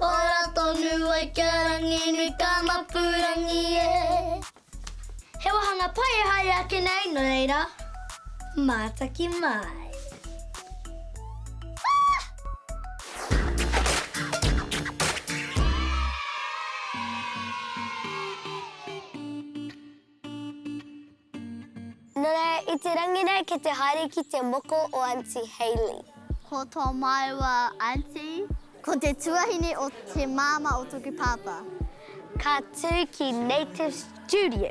Ora tonu ai kia ranginui ka mapurangi e. He wahanga pai e haere ake nei, no reira, mātaki mai. Nana i te rangi nei ki te haere ki te moko o Aunty Hayley. Ko to maua Aunty. Ko te tuahine o te mama o toku papa. Ka tu ki Native Studio.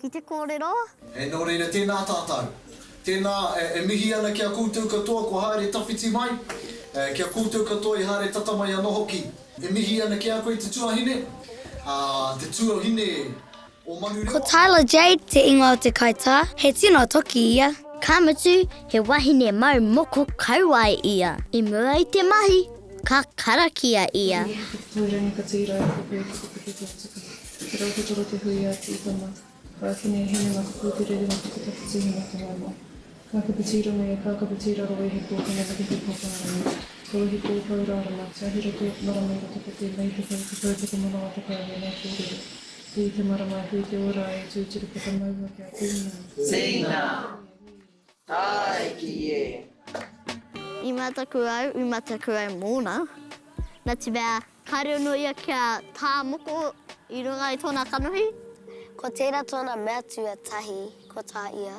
Ki te kōrero. Hei nō reira, tēnā tātou. Tēnā, e mihi ana ki a koutou katoa kua haere tawhiti mai, ki a koutou katoa i haere tata mai anō hoki. E mihi ana ki a koe te tuahine, te tuahine o Manurewa. Ko Tyler Jade te ingoa o te kaitā, he tino toki ia. Ka mutu, he wahine mau moko kauae ia. I mua i te mahi, ka karakia ia. He whakatau rangi katoa i raro i te whare whakapiki ki te wā tuku. Ko te rautotoro te hui a Tī Tama, ka eke nei he mema ka pūtere i runga taketake tuhinga whai mai. Kākapu tī rongo ia, kākapu tī raro wehi pōkena me te hui pōkena rangi. He wehi pōpou rārama, tiahi roto, marama i roto poti, mei te kau, te kaupeka manawa te kau, wēnei kōrero. Hui te marama, hui te ora ai, tūturu whakamaua kia tūnga. Tīna! Tāiki e! I mataku au, i mataku au mōna. Nā te mea, kāore anō ia kia tā moko i runga i tōna kanohi. Ko tērā tōna mea tuatahi, ko tā ia.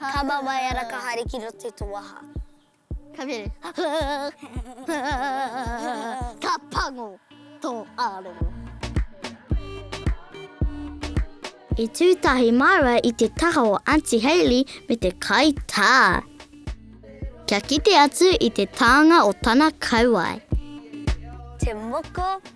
Tama mai ana ka haere ki roto i to waha. Ka mea Ka pango to arongo. I tu tahi maua i te taha o Aunty Hayley me te kai ta. Kia kite atu i te taanga o tana kauae. Te moko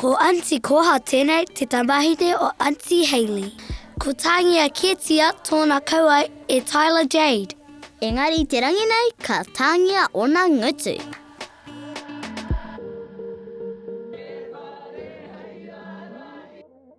Ko Aunty Koha tēnei te tamahine o Aunty Hayley. Ko Tāngia kētia tōna kauae e Tyler Jade. Engari te rangi nei ka tāngia ōna ngutu.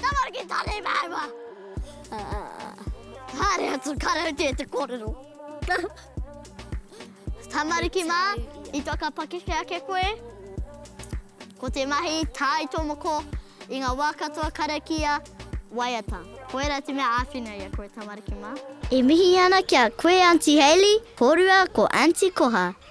Tamariki tari maua! Haere atu karaute te korero. Tamariki ma, i whakapakeke ake koe, ko te mahi tae to moko i nga wa katoa karakia waiata. Koira te mea awhina i a koe tamariki ma. E mihi ana ki a koe Aunty Hayley, korua ko Aunty Koha.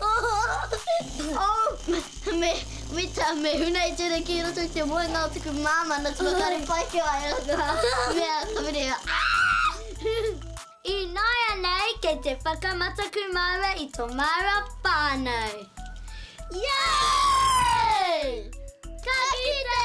Oh! Me, me ta, me huna i tēnei ki roto i te moenga o taku māmā na taku kare pai ki a ia. Mea, ka mire ia, Aah! Ināianei kei te whakamataku māua i tō māua whānau. Yay! Ka kite!